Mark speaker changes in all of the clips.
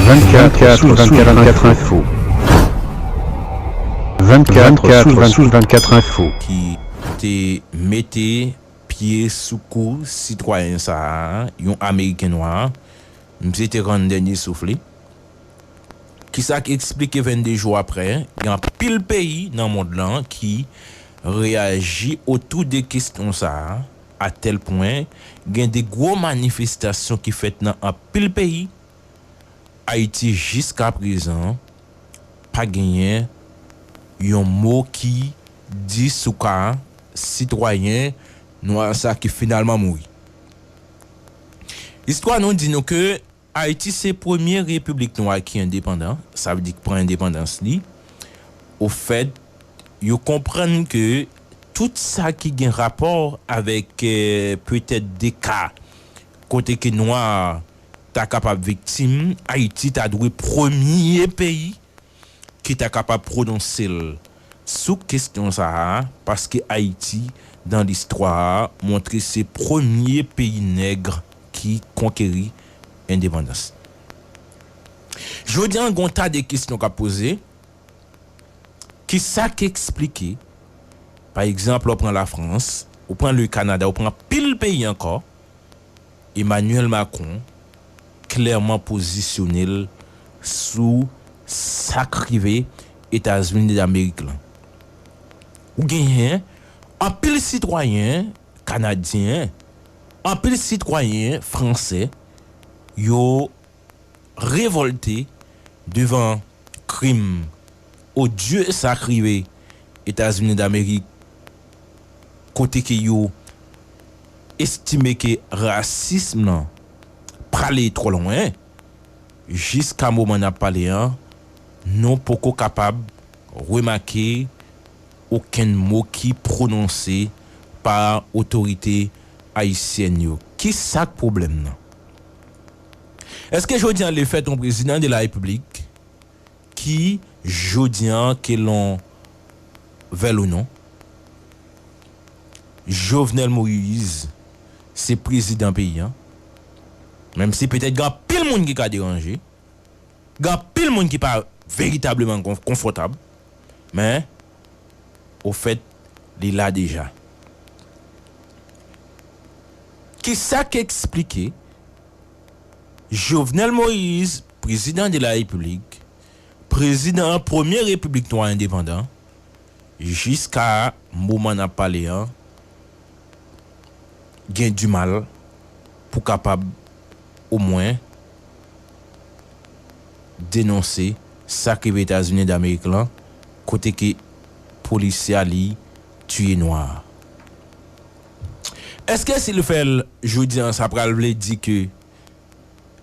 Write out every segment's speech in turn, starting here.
Speaker 1: 24 sous 24 24 info 24 sous 24 24 info ki te
Speaker 2: mete pye sou kou sitwayen sa a, yon ameriken nwa, misye te rann dènye souf li. Ki sa k esplike 22 jou aprè, gen anpil peyi nan mond lan ki reyaji otou de kesyon sa a. A tèl pwen, gen de gwo manifestasyon ki fèt nan anpil peyi, Ayiti jiska prezan pa genyen yon mo ki di sou ka sitwayen nwa sa ki finalman mouri. Istwa nou di nou ke. Ayiti se premye repiblik nwa ki endepandan, sa vle di ki pran endepandans li. Ofèt, yo konprann ke tout sa ki gen rapò avèk petèt de ka kote ke nwa ta kapab viktim, Ayiti ta dwe premye peyi ki ta kapab pwononse l sou kesyon sa a paske Ayiti dan listwa a montre se premye peyi nèg ki konkeri endepandans. Jodi an gen yon ta de kesyon k ap poze, kisa k esplike pa egzanp lè w pran Lafrans, ou pran le Kanada, ou pran anpil peyi ankò, Emmanuel Macron, klèman pozisyone l sou sa k rive Etazini Damerik lan. Ou genyen anpil sitwayen kanadyen, anpil sitwayen franse, yo revòlte devan krim odye sa k rive Etazini Damerik. kote ke yo estime ke rasism lan prale twò lwen, jiska moman n ap pale an, nou poko kapab remake okenn mo ki pwononse pa otorite ayisyèn yo. Ki sa k pwoblèm nan? Èske jodi an lefèt yon prezidan de la repiblik, ki jodi an ke lon vèl ou non Jovenel Moise se prezidan peyi an menm si petèt gen anpil moun ki ka deranje gen anpil moun ki pa veritableman konfòtab men ofèt li la deja kisa k esplike Jovenel Moise Prezidan de la Repiblik, Prezidan an premye Repiblik Nwa endepandan, jiska moman n ap pale an, gen dimal pou kapab omwen denonse sa k rive Etazini Damerik lan kote ke polisye a li tiye nwa a. Eske si l fè l jodi an sa pral vle di ke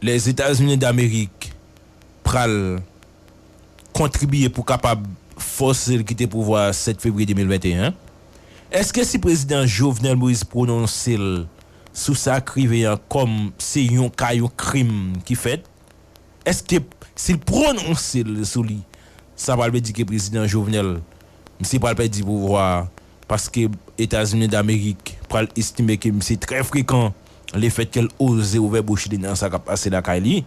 Speaker 2: Lèzetazini Damerik pral kontribiye pou kapab fòse l kite pouvwa a 7 fevriye 2021. Èske si prezidan Jovenel Moïse pwononse l sou sa k rive an kòm se yon ka yon krim ki fèt, èske si l pwononse l sou li sa pral vle di ke prezidan Jovenel misye pral pèdi pouvwa a paske Etazini Damerik pral estime ke misye trè frekan le fèt ke l oze ouvè bouch li nan sa k ap pase lakay li.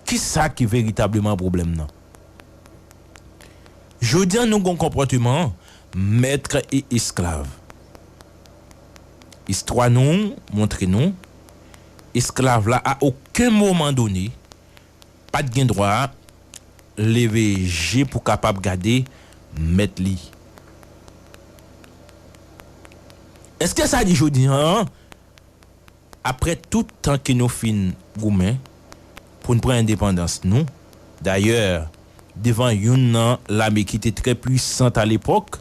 Speaker 2: Ki sa ki veritableman pwoblèm nan? Jodi a nou gen yon konpòteman mètre e esklav. Istwa nou montre nou esklav la a oken moman done pa t gen dwa leve je pou kapab gade mèt li. Èske sa di jodi an, apre tout tan ke nou fin goumen pou n pran endepandans nou, dayè devan youn nan lame ki te trè pwisant alepòk,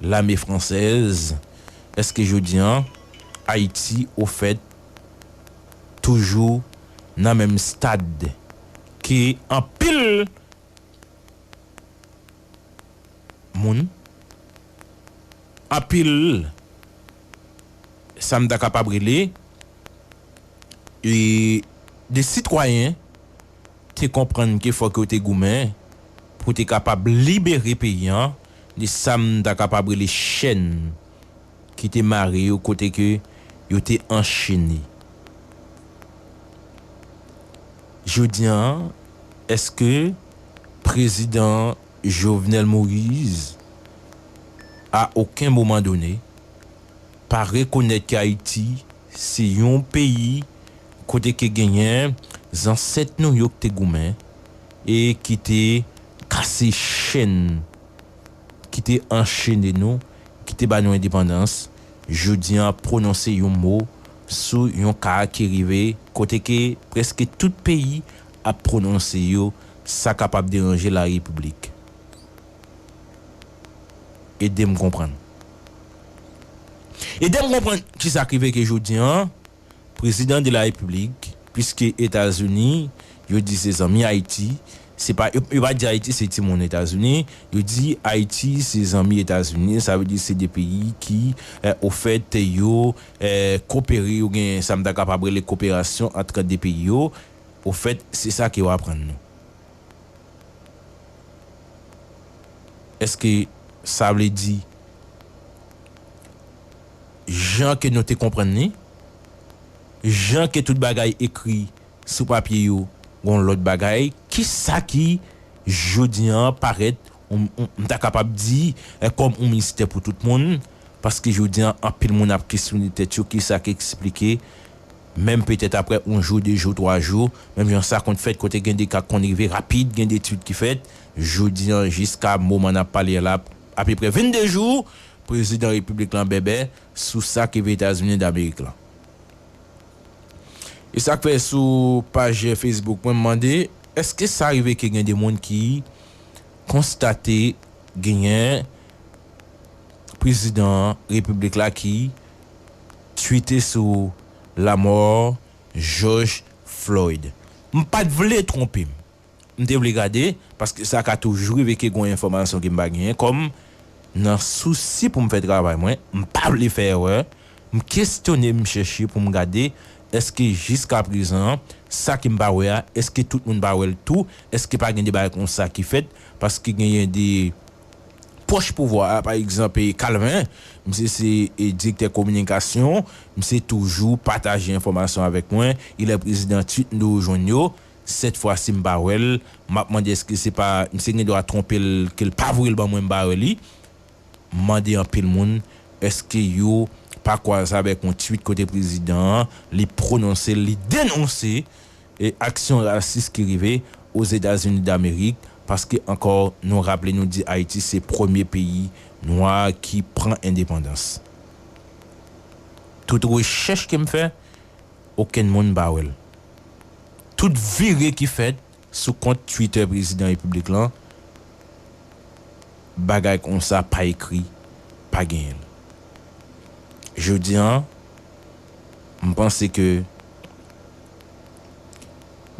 Speaker 2: lame fransèz, èske jodi an Ayiti ofèt toujou nan menm stad ke anpil moun, anpil sa m ta kapab rele de sitwayen te konprann ke fòk yo te goumen pou te kapab libere peyi an de sa m ta kapab rele chèn ki te mare yo kote ke yo te anchene. Jodi an, eske Prezidan Jovenel Moise a oken moman done pa rekonèt ke Ayiti se yon peyi kote ke genyen zansèt nou yo ki te goumen e ki te kase chenn ki te anchene nou, ki te ba nou endepandans, jodi an ap pwononse yon mo sou yon ka ki rive kote ke prèske tout peyi ap pwononse yo, sa kapab deranje la repiblik. Ede m konprann. Ede m konprann ki sa k rive ke jodi an Prezidan de la repiblik piske etazini yo di se zanmi ayiti se pa yo pa di ayiti se ti moun etazini yo di ayiti se zanmi etazini sa vle di se 2 peyi ki ofèt yo kopere yo gen sa m ta kapab rele koperasyon antre 2 peyi yo ofèt se sa ke yo aprann nou eske sa vle di. jan ke nou te konprann li, jan ke tout bagay ekri sou papye yo gon lòt bagay, ki sa ki jodi an parèt m ta kapab di kòm on mistè pou tout moun, paske jodi an anpil moun ap kesyone tèt yo ki sa ki eksplike, menm petèt aprè on jou, de jou, twa jou, menm jan sa konn fèt kote gen de ka k konn rive rapid, gen de etid ki fèt, jodi an jiska moman n ap pale a la apeprè 22 jou, Prezidan repiblik lan bèbè sou sa ki ve Etazini Damerik lan. E sak fè sou paj Facebook mwen m mande eske sa rive ke gen de moun ki konstate genyen prezidan repiblik la ki twite sou lamò Joj Floyd. M pat vle twonpe m. M te vle gade, paske sa ka toujou rive ke gon enfòmasyon ke m pa genyen, kòm nan sousi pou m fè travay mwen, m pa vle fè erè, m kesyone, m chèche pou m gade èske jiska prezan sa ke m pa wè a, èske tout moun pa wè l tou, èske pa gen de bagay konsa ki fèt, paske genyen de pwòch pouvwa a, pa egzanp Kalven, misye se direktè kominikasyon, misye toujou pataje enfòmasyon avèk mwen, ilè prezidan tut m toujou jwenn yo, 7 fwa sim pa wèl map mande eske se pa misye gen dwa tronpel kel pa voyel ban mwen m ba wèl li mande anpil moun eske yo pa kwaz avèk yon tweet kote prezidan an li prononse li denonse aksyon rasis ki rive ozetazini damerik paske ankò nou raple nou di ayiti se premye peyi nwa ki pran endepandans tout rechèch kem fè. okenn moun pa wè l. Tout vire ki fèt sou kont Twitter Prezidan Repiblik lan, bagay konsa pa ekri, pa genyen l. Jodi an, m panse ke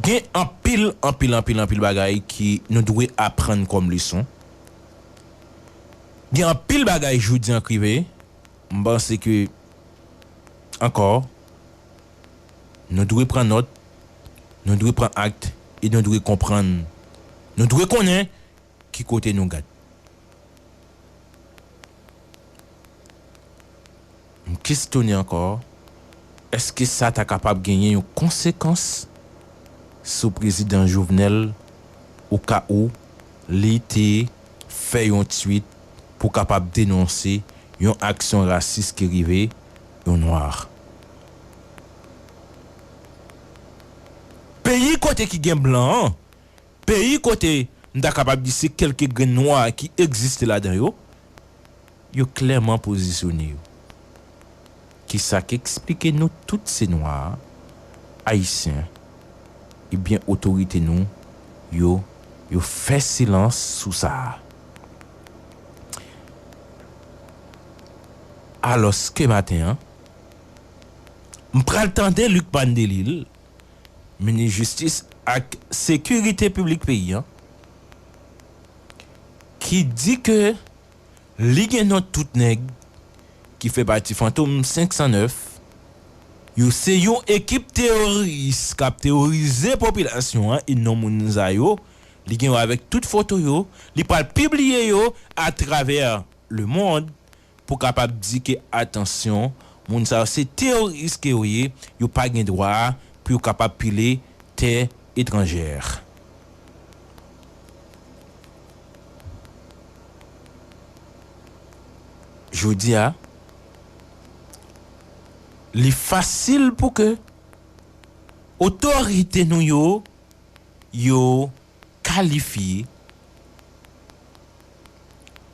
Speaker 2: gen anpil, anpil, anpil, anpil bagay ke nou dwe aprann kòm leson. Gen anpil bagay jodi an k rive. M panse ke, ankò, nou dwe pran nòt, nou dwe pran act e nou dwe konprann, nou dwe konnen ki kote nou gad. M kesyone ankò, èske sa ta kapab genyen yon konsekans sou Prezidan Jovenel o ka ou li te fè yon twit? pou kapab denonse yon aksyon rasis ki rive yon Noir. Peyi kote ki gen blan an, peyi kote m ta kapab di se kelke grenn Nwa ki egziste ladan yo, yo klèman pozisyone yo. Kisa k eksplike nou tout se nwa a? Ayisyen. Ebyen otorite nou yo yo fè silans sou sa a. Alòske maten an, m pral tande Lucmane Delille, minis jistis ak sekirite piblik peyi an, ki di ke. Li gen non tout nèg ki fè pati Fantom 509 yo se yon ekip teyoris kap teyorize popilasyon an e non moun sa yo li gen yo avèk tout foto yo li pral pibliye yo atravè le mond pou kapab di ke atansyon moun sa yo se teyoris ke yo ye yo pa gen dwa pou yo kapab pile tè etranjè. Jodi a, li fasil pou ke otorite nou yo, yo kalifye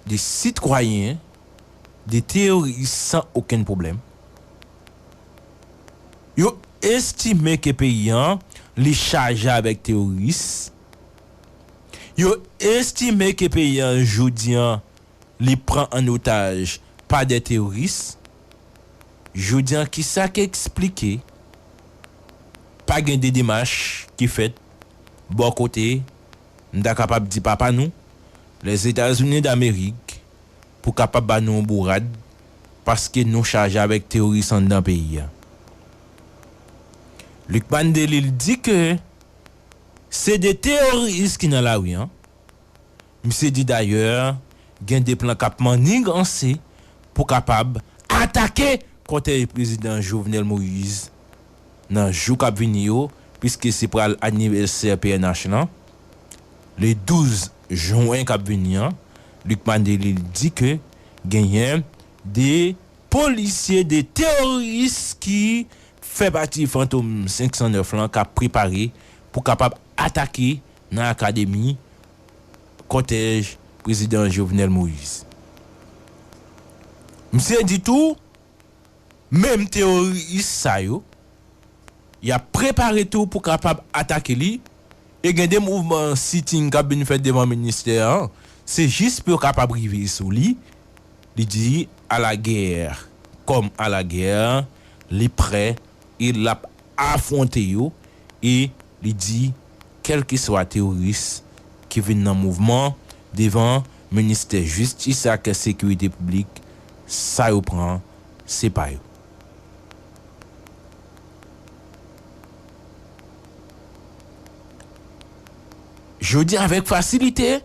Speaker 2: de sitwayen, de teyoris san okenn pwoblèm. Yo estime ke peyi an, li chaje avèk teyoris. Yo estime ke peyi an jodi an li pran an otaj pa de teoris, jodi an ki sa ki eksplike pa gen de demach ki fèt bò kote m ta kapab di papa nou, Lèzetazini Damerik pou kapab ba nou yon bourad paske nou chaje avèk teoris anndan peyi an. Lucmane Delille di ke. Se de teoris ki nan lari an. Misye di dayè gen de plan k ap manniganse pou kapab atake kòtèj prezidan Jovenel Moise nan jou k ap vini yo piske se pral anivèsè pnh lan le 12 jwen k ap vini an. Lucmane Delille di ke genyen de polisye, de teoris ki Fè pati Fantom 509 lan kap prepare pou kapab atake nan akademi kòtèj Prezidan Jovenel Moïse. Misye di tou menm teworis sa yo yap prepare tou pou kapab atake li e gen 2 mouvman sitting kap vin fèt devan ministè an se jis pou yo kapab rive sou li. Li di, A la guerre! Kòm a la guerre, li prè e l ap afwonte yo e li di kèlkeswa teworis ki vin nan mouvman devan ministè jistis ak sekirite piblik, sa yo pran se pa yo. Jodi avèk fasilite.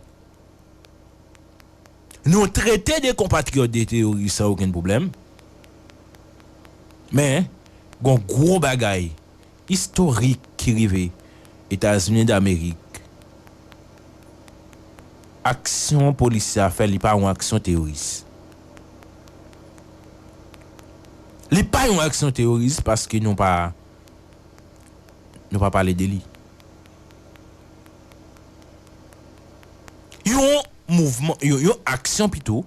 Speaker 2: Nou trete de konpatriyòt de teyoris san okenn pwoblèm. Men, gon gwo bagay istorik ki rive Etazini Damerik. Aksyon polis sa fè li pa yon aksyon teyoris. Li pa yon aksyon teyoris paske nou pa nou pa pale de li. Yon mouvman, yon aksyon pito,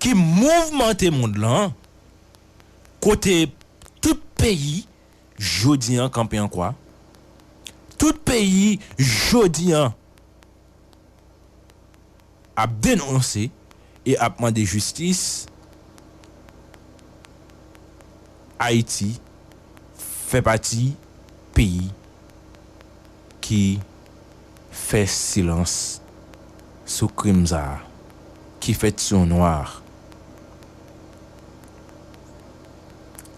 Speaker 2: ki mouvmante mond lan, kote tout peyi jodi an kanpe an kwa, tout peyi jodi an, ap denonse e ap mande jistis Ayiti fè pati peyi ki fè silans sou krim sa a ki fèt sou yon nwa a.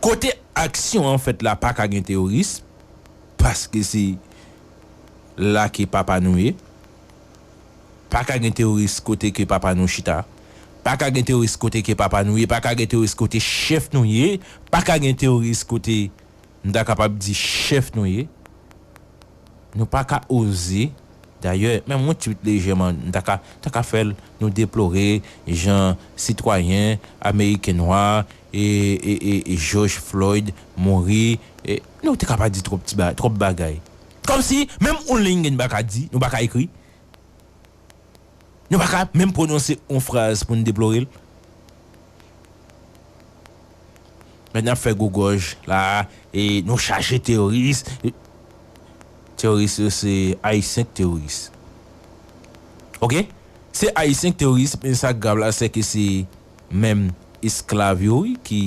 Speaker 2: Kote aksyon an fèt la pa ka gen teworism paske se la ke papa nou ye. Pa ka gen teworis kote ke papa nou chita Pa ka gen teworis kote ke papa nou ye Pa ka gen teworis kote chèf nou ye Pa ka gen teworis kote m ta kapab di chèf nou ye Nou pa ka oze Dayè, menm yon ti pit lejè man m ta ka ta ka fè l Nou deplore jan sitwayen ameriken nwa e e e Jòj Floyd mouri e Nou te ka pa di twòp ti ba twòp bagay. Kòmsi menm oun linge n pa ka di, nou pa ka ekri, nou pa ka menm pwononse oun fraz pou n deplore l? Men n ap fè gwo gòj la a, e nou chaje teyoris, teyoris yo se Ayisyen k teyoris. Ok? Se Ayisyen k teyoris, men sa k grav la sè ke se menm esklav yo wi ki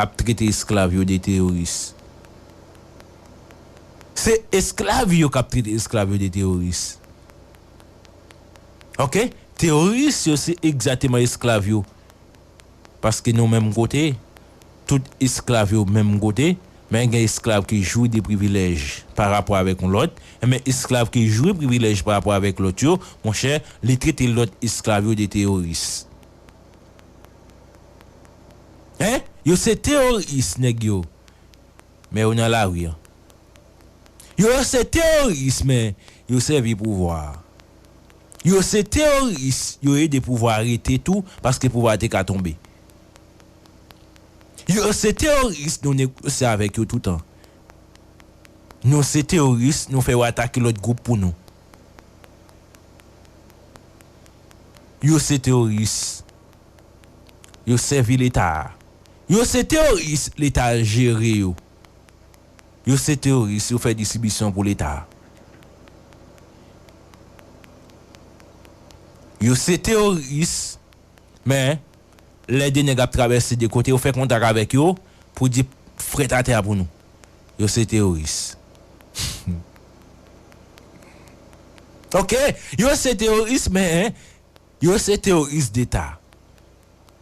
Speaker 2: ap trete esklav yo de teyoris. Se esklav yo kap trete esklav yo de teworis ok teworis yo se egzateman esklav yo paske nou menm kote tout esklav yo menm kote men gen esklav ki jwi de privilèj pa rapò avèk yon lòt enben esklav ki jwi privilèj pa rapò avèk lòt yo monchè li trete lòt esklav yo de teworis hein yo se teworis nèg yo. men yo nan lari an. Yo se teyoris men yo sèvi pouvwa a. Yo se teyoris yo ede pouvwa a rete tou paske pouvwa a te ka tonbe. Yo se teyoris nou negosye avèk yo toutan. Nou se teyoris nou fè yo atake lòt gwoup pou nou. Yo se teyoris. yo sèvi leta a yo se teoris leta jere yo yo se teoris yo fè distribisyon pou leta a yo se teoris men lè de nèg ap travèse de kote yo fè kontak avèk yo pou di frèt atè a pou nou yo se teoris humm ok yo se teoris men. Yo se teoris deta.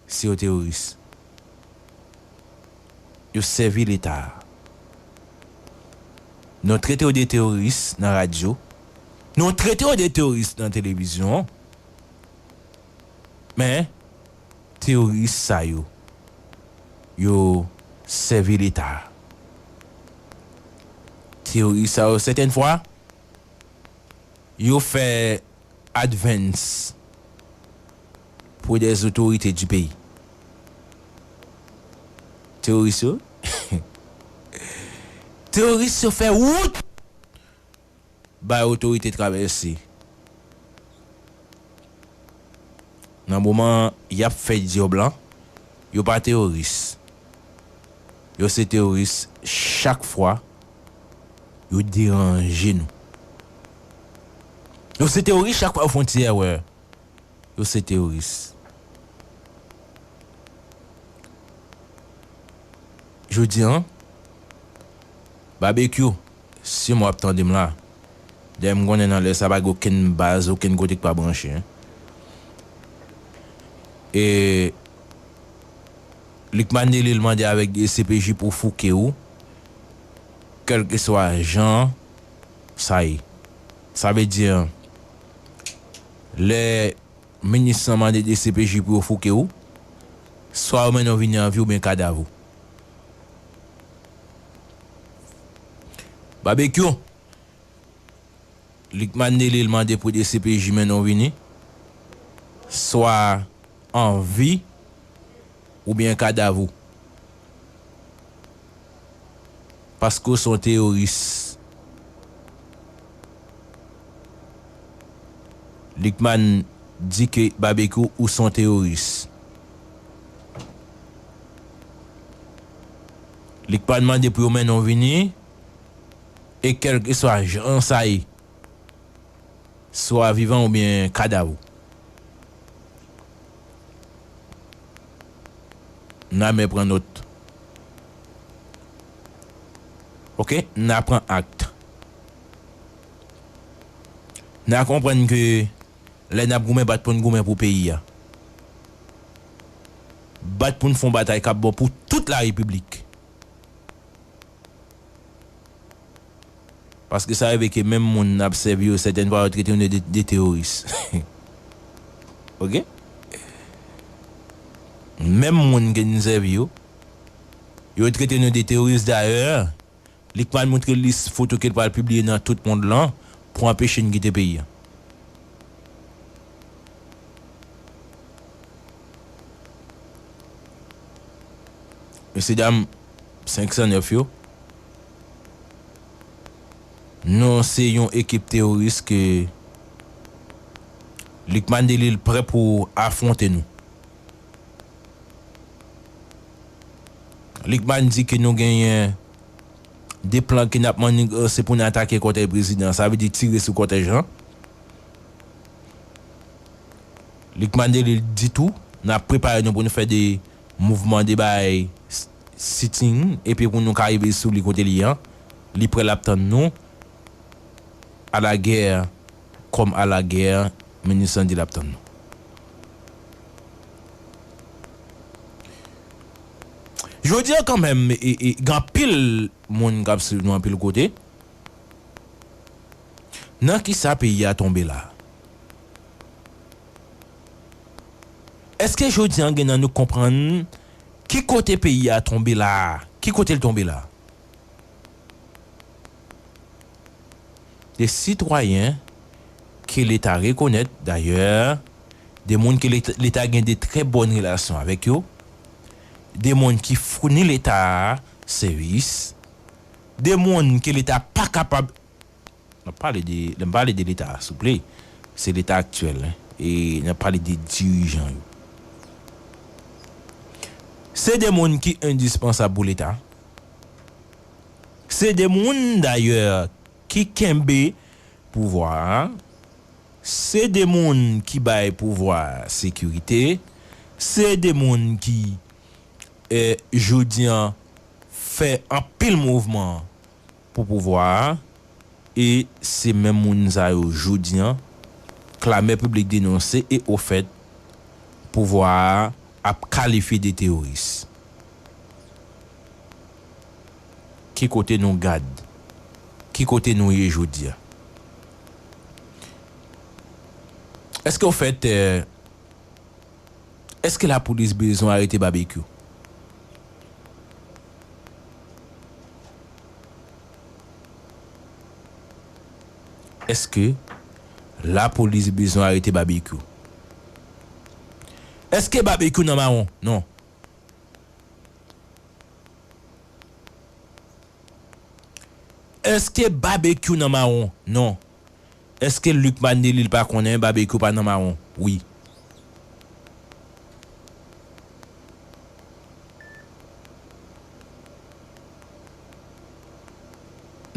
Speaker 2: Se yo teoris. Yo sèvi leta. Nou trete yo de teoris nan radyo. Nou trete yo de teoris nan televizyon. Men, teoris sa yo, yo sèvi leta. Teoris sa yo sèten fwa, yo fè advance pre des autorites du pays teroris yo teroris yo fè wout bay otorite travèse nan moman yap fè dyob lan yo pa teroris. Yo se teroris chak fwa yo deranje nou. Yo se teroris chak fwa yo fon ti èrè. Yo se teroris. Jodi an, Babekyou, si mwen wap tande m la, dayè m konnen nan lè sa pa gen okenn baz, okenn kote ki pa branche. E. Lucmane Delille mande avèk dcpj pou fouke ou kèlkeswa jan sa ye. Sa vle di an lè minis lan mande dcpj pou yo fouke ou, swa yo mennen ou vini an vi oubyen kadav ou. Babekyou! Lucmane Nelil mande pou dcpj mennen w vini, swa an vi oubyen kadav ou. Paske w se yon teyoris. Lucmane di ke Babekyou ou se yon teyoris. Lucmane mande pou yo mennen w vini. E kèlkeswa jan sa ye, swa vivan oubyen kadav ou, n a men pran nòt. Ok, n a pran act. N a konprann ke lè n ap goumen bat pou n goumen pou peyi a, bat pou n fè yon batay k ap bon pou tout la Repiblik. Paske sa rive ke menm moun nap sèvi yo sètèn fwa yo trete nou de de teworis. Ok. Menm moun ke nou sèvi yo, yo trete nou de teworis dayè Lickman moutre lis foto ke l pral pibliye nan tout mond lan pou anpeche n kite peyi an. Mesye dam. 509 yo non se yon ekip teworis ke Lucmane Delille prè pou afwonte nou. Lucmane di ke nou genyen 2 plan ke nap manniganse pou nou atake kotèy prezidan sa vle di tire sou kotèy Jean. Lucmane Delille di tou nap prepare nou pou nou fè 2 Mouvman de bay sitting epi pou nou ka rive sou li kote li an li prè lap tann nou a la gè kòm a la gè minist lan di lap tann nou jodi an kan menm gen anpil moun kap swiv nou anpil kote nan kisa peyi a tonbe la. Eske jodi an gen nan nou k konprann ki kote peyi a tonbe la a? Ki kote l tonbe la a? De sitwayen ke leta rekonèt dayè, de moun ke leta gen de trè bòn relasyon avèk yo, de moun ki founi leta a sèvis, de moun ke leta pa kapab Nap pale de, lè m pale de leta a souple, se leta aktyèl hein, e nap pale de dirijan yo. Se de moun ki endispansab pou leta. Se de moun dayè ki kenbe pouvwa a. Se de moun ki bay pouvwa a sekirite. Se de moun ki jodi an fè anpil mouvman. Pou pouvwa a, e se menm moun sa yo jodi an, klamè piblik denonse e ofèt, pouvwa a ap kalifye de teyoris. Ki kote nou gad? Ki kote nou ye jodi a? Eske ofèt. Eske la police bezwen arete babekyou. Eske la police bezwen arete babekyou. Eske babekyou nan mawon non. Eske babekyou nan mawon non. Eske Luc Manelly li pa konnen Babekyou pa nan mawon wi.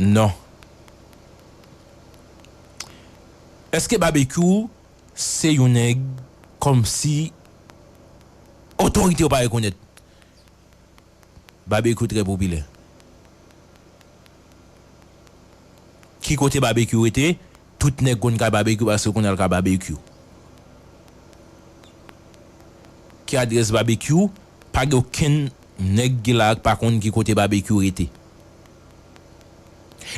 Speaker 2: Non. Eske Babekyou se yon nèg kòmsi otorite yo pa rekonèt. Babekyou trè popilè. Ki kote Babekyou rete? Tout nèg konn kay Babekyou paske yo konn al kay Babekyou. Ki adrès Babekyou? Pa gen okenn nèg ki la a ki pa konn ki kote Babekyou rete.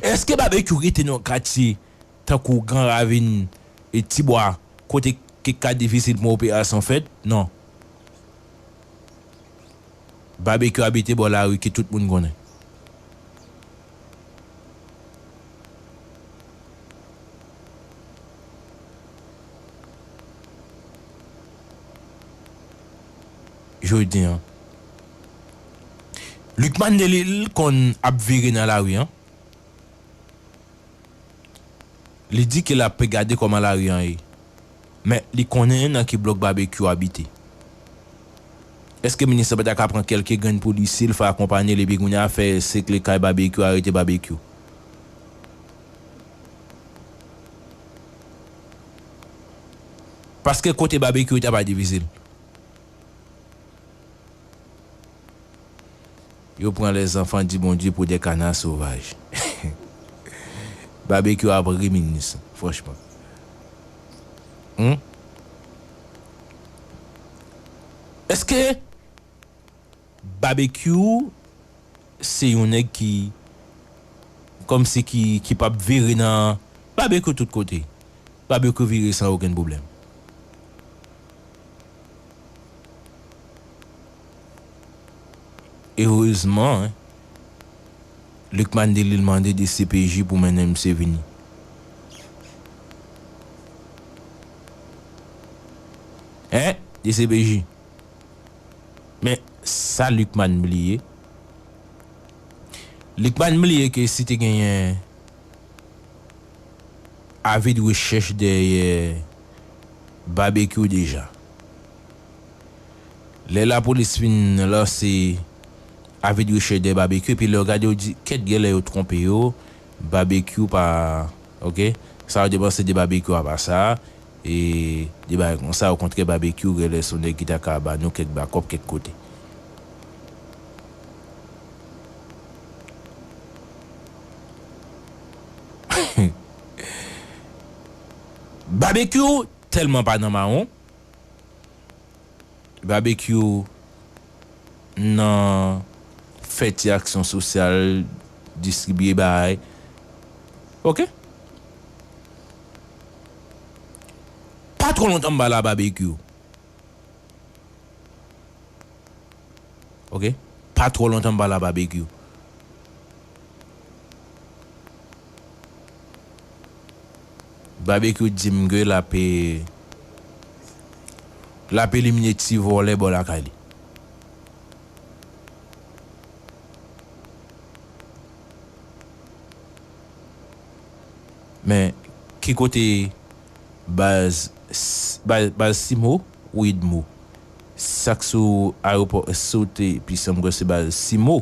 Speaker 2: Eske Babekyou rete nan yon katye tankou Gran Ravin, Ti Bwa kote ki ka difisil pou yon operasyon fèt? Non. Babekyou abite bò lari ke tout moun konnen. Jodi an. Lucmane Delille konn ap vire nan lari an. Li di ke l ape gade kòman lari an ye. Men, li konnen nan ki blòk Babekyou abite. Eske minis lan pa ta ka pran kèlke grenn polisye l fè akonpanye l epi kounye a fè sekle kay Babekyou arete Babekyou? Paske kote Babekyou rete a pa difisil. Yo pran le zanfan di Bondye pou de kana sovaj. Babekyou ap ri minis franchman. Humm. Eske Babekyou se yon neg ki kom si ki ki pap vire nan Babekyou tout kote. Babekyou vire san okenn problem. Erezman, Lucmane Delille mande dcpj pou mennen misye vini. Hein! Dcpj! Men, sa Lucmane bliye? Lucmane bliye ke si te genyen avi de rechèch dèyè Babekyou deja. Lè lapolis fin lanse avi de recherche de Barbecue epi lè w gade w di kèt genlè yo twonpe yo Barbecue pa ok sa yo te panse de Barbecue a pa sa e de bagay konsa okontrè Barbecue genlè son nèg ki ta ka ba nou kèk bakòp kèk kote. Barbecue tèlman pa nan mawon. Babekyou nan fè ti aksyon sosyal distribiye bahay ok pa twò lontan mba la babekyou ok pa twò lontan mba la babekyou. Babekyou dim ge lap lap elimine ti vòlè bò lakay li. Men ki kote baz baz simo ou idmo sak sou ayopò sote pise mkwè se baz simo.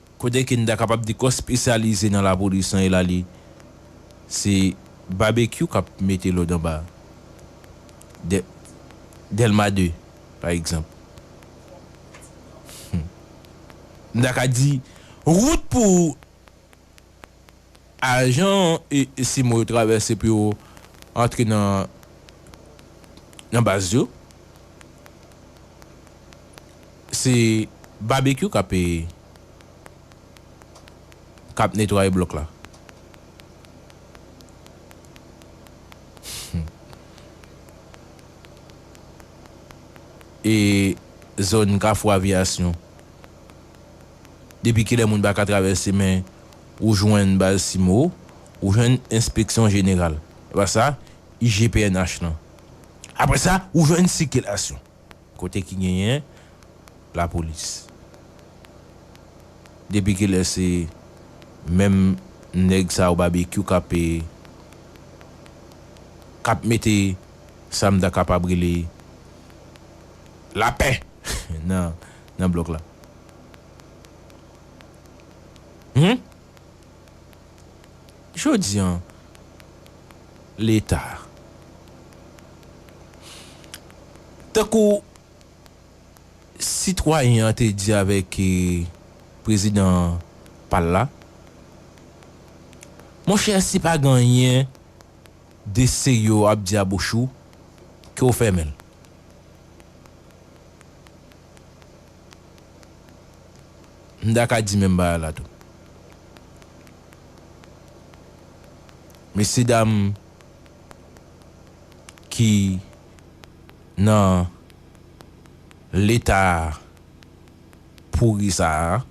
Speaker 2: Kote ke n ta kapab di kò spesyalize nan lapolis lan Elali, se Babekyou k ap mete lòd anba dè Dèlma 2, pa egzanp. Hum! M ta ka di, wout pou. Ajan Simo yo travèse pou yo antre nan baz yo. Se Babekyou k ap k ap netwaye blòk la. E zòn Kafou Aviyasyon. Depi kilè moun pa ka travèse men ou jwenn Balsimo, ou jwenn enspeksyon jeneral, epa sa, IGPNH lan. Apre sa, ou jwenn sikilasyon. Kote ki genyen lapolis. Depi kilè se menm nèg sa yo Babekyou k ap k ap mete sa m ta kapab rele lapè nan. nan blòk la. Hum! Jodi an, Leta, tankou sitwayen an te di avèk prezidan pa l la, Monchè, si pa gen anyen de serye w ap di a bouch ou, ke w fèmen l. M ta ka di menm bagay la tou. Mesye dam ki nan leta pouri sa a,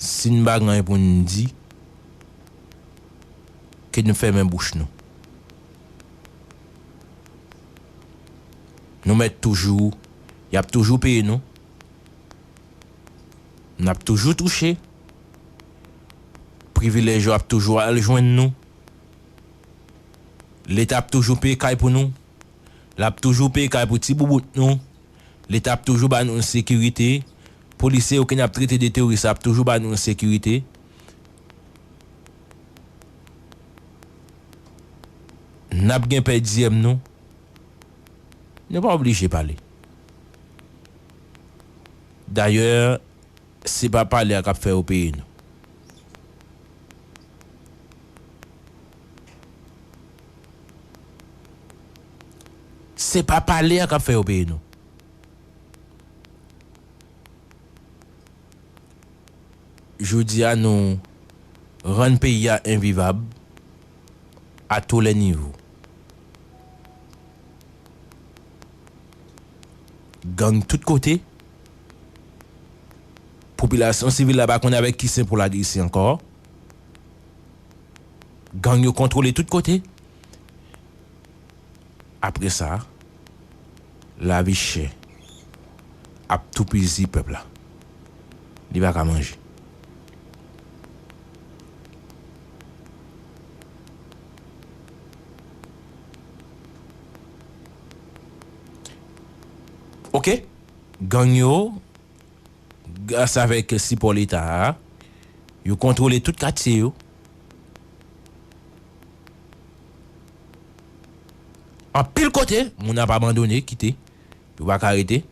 Speaker 2: si n pa gen anyen pou n di, ke nou fèmen bouch nou. Nou mèt toujou y ap toujou peye nou n ap toujou touche privilèj yo ap toujou al jwenn nou leta ap toujou peye kay pou nou l ap toujou peye kay pou ti boubout nou leta ap toujou ba nou sekirite polisye yo ke n ap trete de teworis ap toujou ba nou sekirite. Nap gen pè diyèm nou. Nou pa oblije pale. Dayè se pa pale a kap fè yo peye nou. Se pa pale a kap fè yo peye nou. Jodi a nou rann peyi a envivab a tou lè nivo. Gang tout kote, popilasyon sivil la pa konn avèk ki sen pou l agrese ankò. Gang yo kontwole tout kote. Apre sa. Lavi chè ap toupizi pèp la. Li pa ka manje. Ok. Gang yo, gras avèk sipò Leta a, yo kontwole tout katye yo. Anpil kote, moun ap abandone, kite. Yo pa ka rete.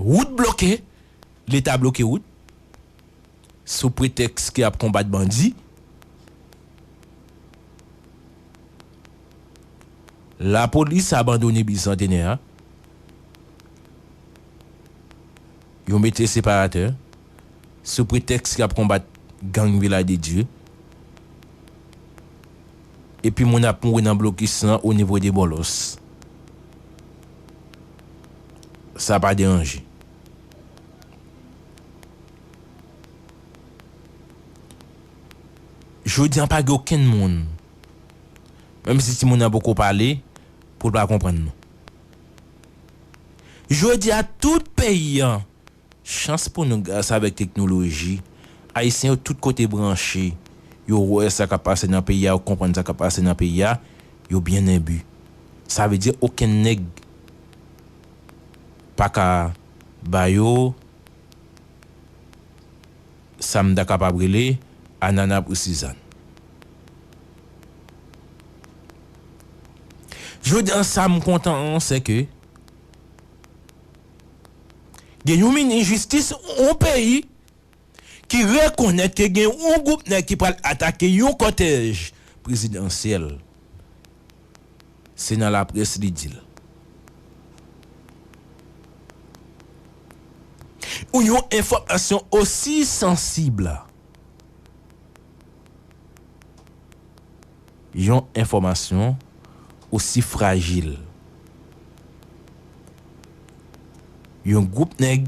Speaker 2: Wout bloke, Leta bloke wout, sou pretèks ke ap konbat bandi. Lapolis abandone Bicentenaire a. Yo mete separatè, sou pretèks yap konbat gang Vilaj de Dye. Epi moun ap mouri nan blokis lan o nivo de Bòlòs. Sa pa deranje. Jodi an pa gen okenn moun, menm si timoun nan poko pale, pou l pa konprann nou. Jodi a tout peyi an chans pou nou gras avèk teknoloji ayisyen yo tout kote branche yo wè sa kap pase nan peyi a yo konprann sa kap pase nan peyi a yo byen enbi sa vle di okenn nèg paka ba yo sa m ta kapab rele anana pou sizann. Jodi an sa m kontan an se ke gen yon minis jistis yon peyi ki rekonèt ke gen yon gwoup nèg ki pral atake yon kòtèj prezidansyèl. Se nan laprès li di l. Yon enfòmasyon osi sansib. Yon enfòmasyon osi frajil. Yon gwoup nèg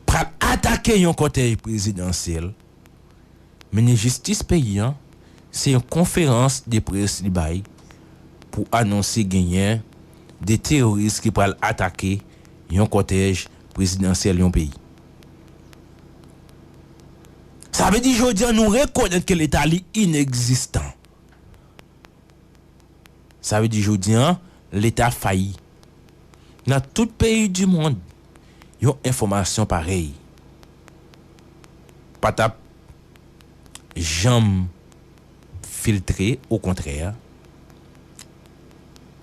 Speaker 2: pral atake yon kòtèj prezidansyèl, minis jistis peyi an, se yon konferans de près li bay pou anonse genyen 2 teworis ki pral atake yon kòtèj prezidansyèl yon peyi. Sa vle di jodi an nou rekonèt ke leta li inekzistan. Sa vle di jodi an leta fayi. Nan tout peyi di mond yon enfòmasyon parèy pa tap janm filtre okontrè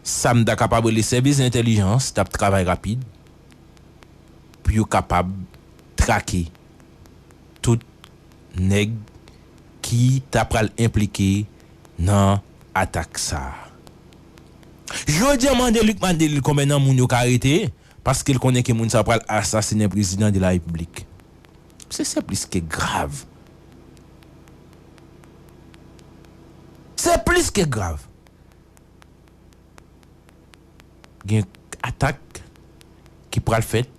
Speaker 2: sa m ta kapab rele sèvis entèlijans tap travay rapid pou yo kapab trake tout nèg ki ta pral enplike nan atak sa a. Jodi an mande Luc Madelil konbyen nan moun yo ka arete paske l konnen ke moun sa pral asasinen prezidan de la repiblik. Se se plis ke grav. Se plis ke grav. Gen atak ki pral fèt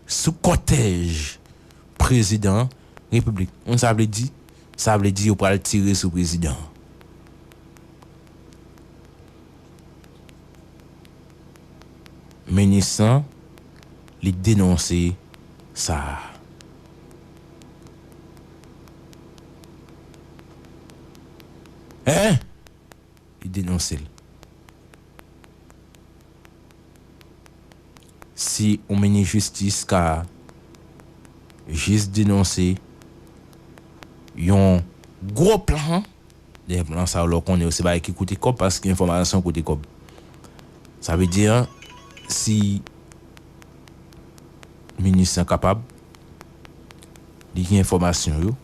Speaker 2: sou kòtèj prezidan repiblik an. Sa vle di? Sa vle di yo pral tire sou prezidan an. Minis lan li denonse sa a. Hein! Li denonse l. Si yon minis jistis ka jis denonse yon gwo plan, dèyè plan sa yo lè w konnen yo se bagay ki koute kòb paske enfòmasyon koute kòb. Sa vle di si minis lan kapab Li gen enfòmasyon yo.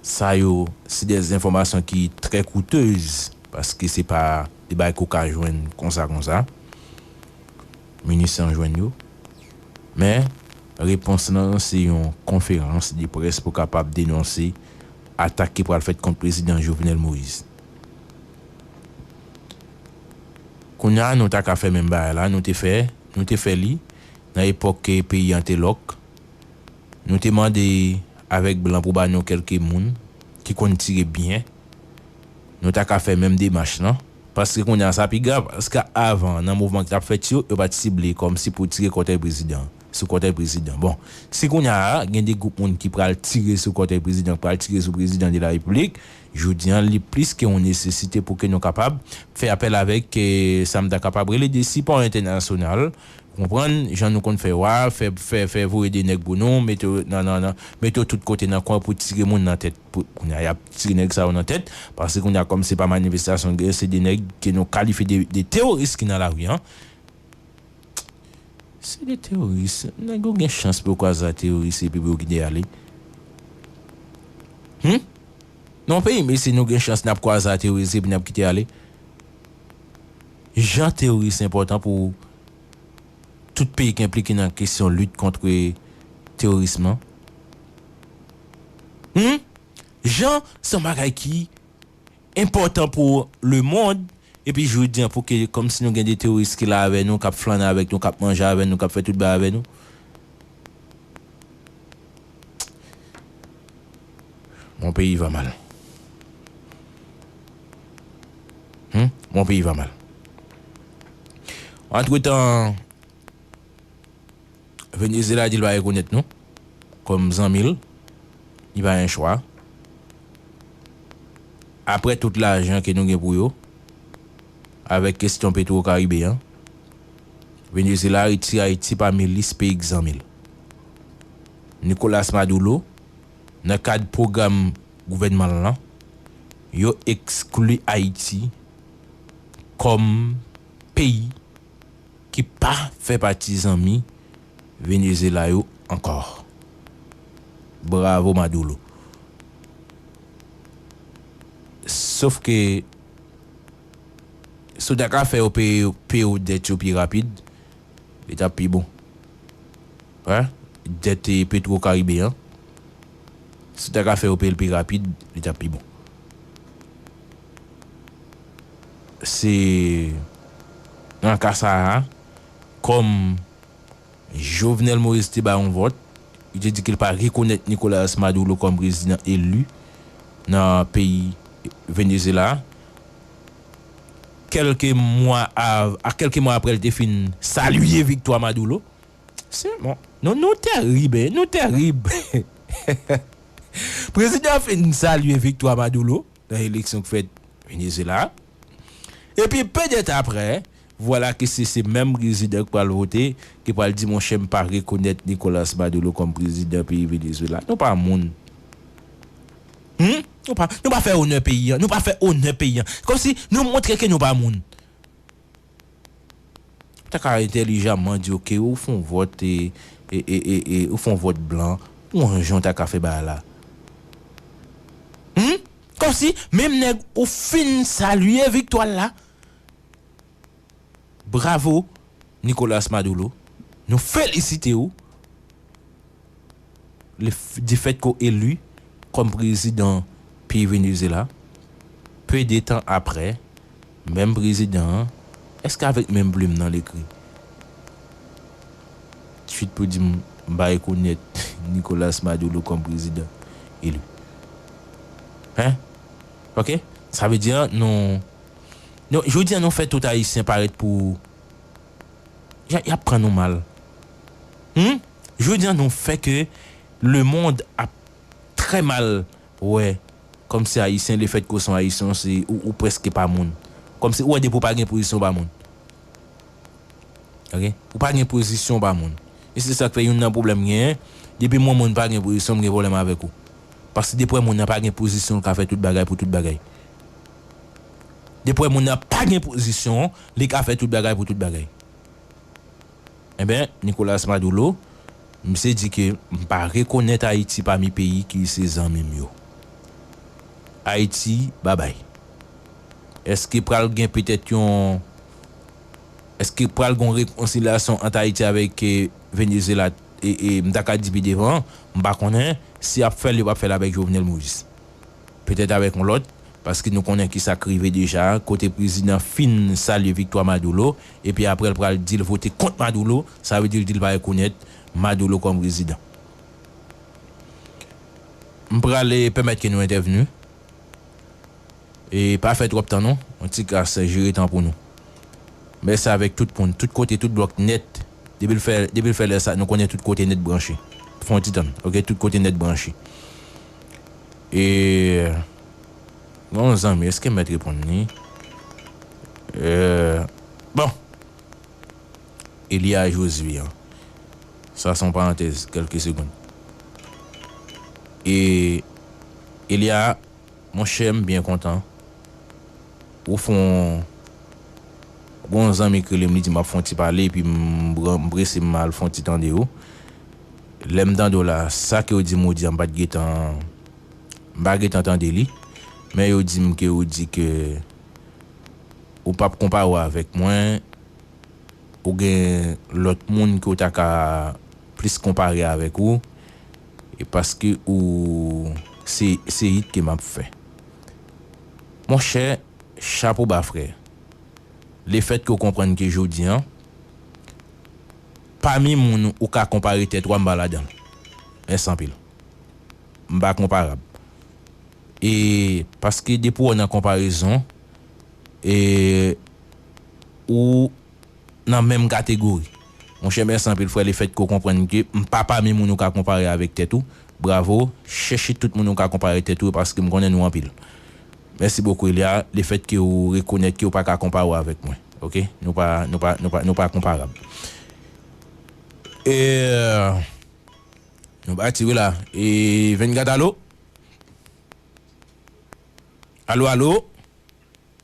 Speaker 2: Sa yo se de enfòmasyon ki trè koutez paske se pa de bagay ke w ka jwenn konsa konsa. Minis lan jwenn yo. Men, repons lan se yon konferans de près pou kapab denonse atak ki pral fèt kont Prezidan Jovenel Moïse. Kounye a nou ta ka fè menm bagay la nou te fè, nou te fè li nan epòk ke peyi an te lòk, Nou te mande avèk blan pou ba nou kèlke moun ki konn tire byen. Nou ta ka fè menm demach lan. Paske kounye a sa pi grav. Paske avan, nan mouvman ki t ap fèt yo, yo pa t sible kòmsi pou tire kòtèy prezidan, sou kòtèy prezidan. Bon, si kounye a gen de gwoup moun ki pral tire sou kòtèy prezidan, ki pral tire sou prezidan de la repiblik, jodi a li plis ke yon nesesite pou ke nou kapab fè apèl avèk sa m ta kapab rele de sipò entènasyonal. Ou konprann, jan nou konn fè wa, fè, fè, fè voye de nèg pou nou, mete yo nan, nan, nan, mete yo tout kote nan kwen pou tire moun nan tèt. Pou, kounye a y ap tire nèg sa yo nan tèt, paske kounye a kòm se pa manifestasyon k gen, se de nèg ke nou kalifye de, de teworis ki nan lari an. Se de teworis. Nèg yo gen chans pou yo kwaze ak teworis epi pou yo kite y ale. Hum! Nan yon peyi mesye nou gen chans n ap kwaze ak teworis epi n ap kite ale. Jan teworis enpòtan pou tout peyi ki enplike nan kesyon lit kontre teworism lan? Hum! Jan se yon bagay ki enpòtan pou lemond, epi jodi an pou ke kòmsi nou gen de teworis ki la avè nou, k ap flannen avèk nou, k ap manje avè nou, k ap fè tout bagay avè nou. Mon peyi va mal Humm mon peyi va mal Antretan Venezyela di l pa rekonèt nou kòm zanmi l li pa gen chwa aprè tout lajan ke nou gen pou yo avèk kestyon petwokaribe an. Venezuela retire Ayiti pami lis peyi k zanmi l. Nicolas Maduro, nan kad pwogram gouvènman l lan, yo ekskli Ayiti kòm peyi ki pa fè pati zanmi Venezuela yo ankò. Bravo Maduro! Sof ke. Si w ta ka fè yo peye yo peye w dèt yo pi rapid, li t ap pi bon. Hein? Dèt Petro Caribe an, si w ta ka fè yo peye l pi rapid, li t ap pi bon. Se nan ka sa a, kòm. Jovenel Moïse te bay yon vòt, li te di ke li pa rekonèt Nicolas Maduro kòm prezidan eli nan peyi Venezyela a. Kèlke mwa av, a kèlke mwa aprè li te fin salye viktwa Maduro. Se bon, nou, nou tèrib hein, nou tèrib. Prezidan an fin salye viktwa Maduro nan eleksyon k fèt Venezyela a. Epi pèdèt aprè, Vwala ke se se menm prezidan ki pral vote, ki pral di monchè m pa rekonèt Nicolas Maduro kòm prezidan peyi Venezuela. Nou pa moun. Hum! Nou pa, nou pa fè onè peyi an. Nou pa fè onè peyi an. Kòm si nou montre ke nou pa moun. Ou ta ka entèlijaman di ok, ou fon vòt e, e, e, e, e, ou fon vòt blan. Ou an jan ou ta ka fè bagay la. Hum! Kòm si menm nèg ou fin salye viktwa l la. Bravo Nicolas Maduro nou felisite ou le du fait ke w elu kòm prezidan peyi Venezuela peu de tan aprè menm prezidan an èske avèk menm plum nan l ekri tweet pou di m ba rekonèt Nicolas Maduro kòm prezidan elu hein ok sa vle di nou Jodi a nou fè tout ayisyen parèt pou yap pran nou mal humm jodi a nou fè ke lemond ap trè mal wè kòmsi ayisyen le fèt ke w son ayisyen w se ou prèske pa moun kòmsi ou wè depi w pa gen pozisyon w pa moun ok ou pa gen pozisyon w pa moun e se sak fè youn nan pwoblèm m genyen depi m wè moun pa gen pozisyon m gen pwoblèm avèk ou paske depi w wè moun nan pa gen pozisyon l ka fè tout bagay pou tout bagay. Depi w wè moun nan pa gen pozisyon, li ka fè tout bagay pou tout bagay. Enben, Nicolas Madoulo, misye di ke m pa rekonèt Ayiti pami peyi ki se zanmi m yo. Ayiti, babay. Eske pral gen petèt yon, eske pral gen yon rekonsilyasyon ant Ayiti avèk Venezyela, e m ta ka di pi devan, m pa konnen, si y ap fè l, yo p ap fè l avèk Jovenel Moïse. petèt avèk yon lòt, paske nou konnen ki sa k rive deja, kote prezidan fin salye viktwa Madoulo, epi apre l pral di l vote kont Madoulo, sa vle di l di l pa rekonèt Madoulo kòm prezidan. M pral pèmèt ke nou entèvni, e pa fè twòp tan non, yon ti kras jere tan pou nou. M fè sa avèk tout moun, tout kote, tout blòk nèt, depi l fè, depi l fè lè sa, nou konnen tout kote nèt branche. Fè yon ti tann, ok, tout kote nèt branche. E gen yon zanmi eske m mèt reponn li e bon Elia Josue an sa son parantèz kelke segond e Elia monchè m byen kontan. Pou fon Gon yon zanmi k rele m li di m ap fon ti pale epi m prese m al fon ti tande w lè m tande w la sa ke w di m ou di a m pat gentan m pa gentan tande li men yo di m ke ou di ke ou pap konpare w avèk mwen ou gen lòt moun ke w ta ka plis konpare avèk ou e paske ou se se it ke m ap fè Monchè, chapo ba frè. Lefètke ou konprann ke jodi an, pami moun ou ka konpare tèt ou a m pa ladan l. Mèsi anpil. M pa konparab. E paske depi w nan konparezon, e ou. nan menm kategori. Monchè mèsi anpil frè le fèt ke w konprann ke m pa pami moun ou ka konpare avèk tèt ou, bravo, chèche tout moun ou ka konpare tèt ou yo paske m konnen nou anpil. Mèsi bokou Elia le fèt ke w rekonèt ke w pa ka konpare w avèk mwen ok nou pa nou pa nou pa nou pa konparab eeeeh nou pati wi la eeeeh 24 alo alo alo.